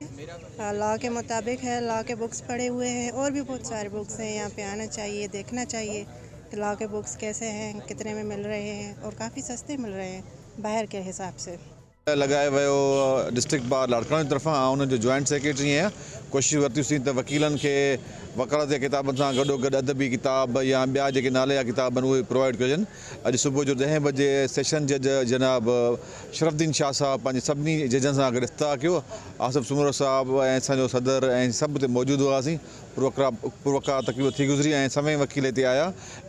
لا ڪي مطابق هي لا ڪي بوڪس پڙهي هئي هي اور بهي بهت ساري بوڪس هي يهان پي آنا چاهيي ديکنا چاهيي ڪي لا ڪي بوڪس ڪيسي هي ڪتني مي مل رهي هي اور ڪافي سستي مل رهي هي باهر ڪي حساب سي. لڳائي ويو ڊسٽرڪٽ بار لاڙڪاڻي جي طرفان آئون انهن جو جوائنٽ سيڪريٽري آهيان ڪوشش ورتيون سين ته وڪيلن کي وڪالت جي ڪتابن سان گڏوگڏ ادبي ڪتاب يا ٻيا جيڪي ناليا ڪتاب آهن اهي پرووائيڊ ڪجن اڄ صبح جو ڏهين بجي سيشن جج جناب شرف الدين شاهه صاحب پنهنجي سڀني ججن سان گڏ افتتاح ڪيو. آصف سومرو صاحب ۽ اسان جو صدر ۽ سڀ اتي موجود هئاسين. پروقرا تقريب ٿي گذري ۽ سوين وڪيل هتي آيا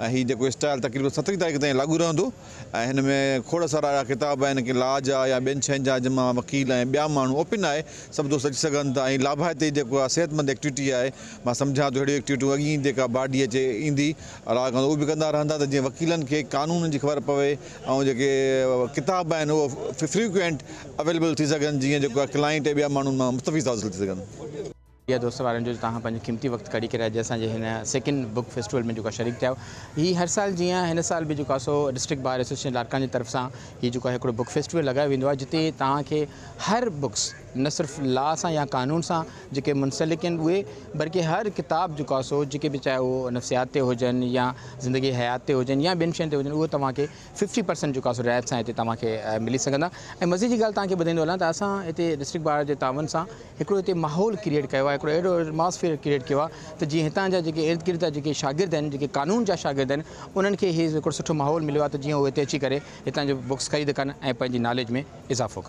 ۽ هي جيڪو اسٽائيل تقريبن سترهين تاريخ تائين لاڳو رهندو ۽ هن ۾ کوڙ سارا اهڙا ڪتاب آهن ڪي لا جا يا ٻين شين جا جن مان وڪيل ۽ ٻيا ماڻهو اوپن آهي سڀ دوست اچي سگهن ٿا ۽ لاڀائتي جيڪو آهي صحت مند ايڪٽويٽي آهي مان سمجهان ٿو اهڙيون ايڪٽويٽيون اڳ ئي جيڪا باڊي اچي ايندي الاء ڪندو اهو به ڪندا رهندا ته جيئن وڪيلن کي قانون جي خبر پوي ۽ جيڪي ڪتاب آهن اهو فريڪوئنٽ اويليبل ٿي سگهن جيئن جيڪو ڪلائنٽ ۽ ٻيا ماڻهو ان مان مستفيض حاصل ٿي سگهن. شڪريه دوست وارن جو جو توهان پنهنجو قيمتي وقت ڪڍي ڪري اڄ اسان جي هن سيڪنڊ بوڪ فيسٽيول ۾ جيڪو آ شريڪ ٿيا آهيو هي هر سال جيئن هن سال به جيڪو آ سو ڊسٽرڪٽ بار ايسوسيئشن لاڙڪاڻي جي طرف سان هي جيڪو آ هڪڙو بوڪ فيسٽيول لڳايو ويندو آ جتي توهان کي هر بوڪس نه صرف لا سان يا قانون سان جيڪي منسلڪ آهن اهي، بلڪه هر ڪتاب جو ڪا سو جيڪي به چاهي اهي نفسيات تي هجن يا زندگي حيات تي هجن يا ٻين شين تي هجن اهي توهان کي ففٽي پرسنٽ جو ڪا سو رعايت سان هتي توهان کي ملي سگهندا ۽ مزي جي ڳالهه توهان کي ٻڌائيندو هلان ته اسان هتي ڊسٽرڪٽ بار جي تعاون سان هڪڙو هتي ماحول ڪريئيٽ ڪيو آهي هڪڙو اهڙو ايٽماسفيئر ڪريئيٽ ڪيو آهي ته جيئن هتان جا جيڪي ارد گرد جا جيڪي شاگرد آهن جيڪي قانون جا شاگرد آهن انهن کي هي هڪڙو سٺو ماحول مليو آهي ته جيئن اهي هتي اچي ڪري هتان جون بڪس خريد ڪن ۽ پنهنجي ناليج ۾ اضافو ڪن.